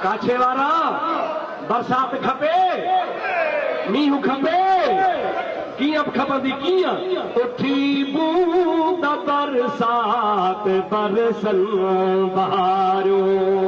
ڪاڇي وارا، برسات کپي، مينهن کپي، ڪيئن به کپندي ڪيئن؟ اٺي بوند برسات، برسن بهارون.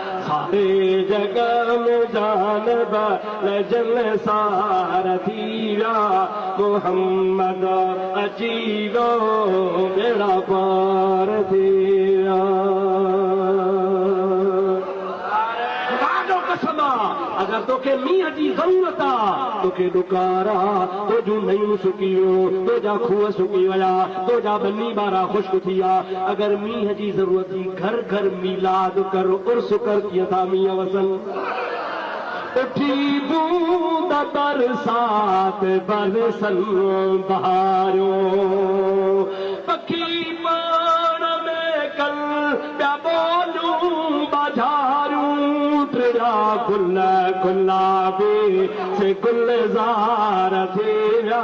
ساري جڳ ۾ جان بل جن سار ٿي ويا محمد اچي ويو ٻيڙا پار ٿي ويا خدا جو قسم آ اگر توکي مينهن جي ضرورت آ توکي ڏڪار آ تنهنجون نئيون سڪي ويو تنهنجا کوهه سڪي ويا تنهنجا ٻني ٻارا خشڪ ٿي ويا اگر مينهن جي ضرورت جي گهر گهر ميلاد ڪر عرس ڪر ڪيئن ٿا مينهن وسن اٺي بوند برسات برسن بهاريو پکي پاڻ ۾ ڪن پيا ٻوليون ٻاجهاريون ٽڙيا گل گلابي سي گلزار ٿي ويا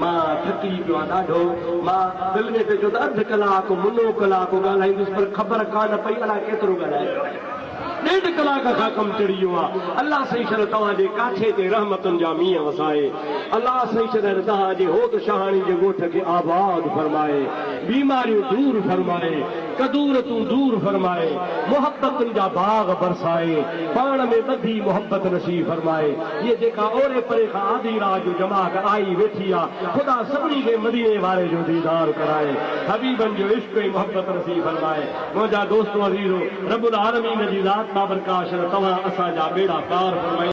مان ٿڪي پيو آهيان ڏاڍو. مان دل ۾ پئي چيو ته اڌ ڪلاڪ منو ڪلاڪ ڳالهائيندس پر خبر ڪانه پئي الاء ڪيترو ڳالهائي پيو آهيان. ڏيڍ ڪلاڪ کان ڪم چڙهي ويو آهي. الله سائين شل توهان جي ڪاٺي تي رحمتن جا مينهن وسائي. الله سائين شل توهان جي هوت شاهاڻي جي ڳوٺ کي آباد فرمائي. بيماريون دور فرمائي. قدور تون دور فرمائي، محبتن جا باغ برسائي، پاڻ ۾ ٻڌي محبت نصيب فرمائي، هيء جيڪا اوري پري کان آڌي رات جو جماعت آئي ويٺي آ، خدا سڀني کي مديني واري جو ديدار ڪرائي، حبيبن جو عشق ۽ محبت نصيب فرمائي، منهنجا دوستو عزيزو! رب العالمين جي ذات بابرڪاشان توهان اسان جا ٻيڙا پار فرمائي.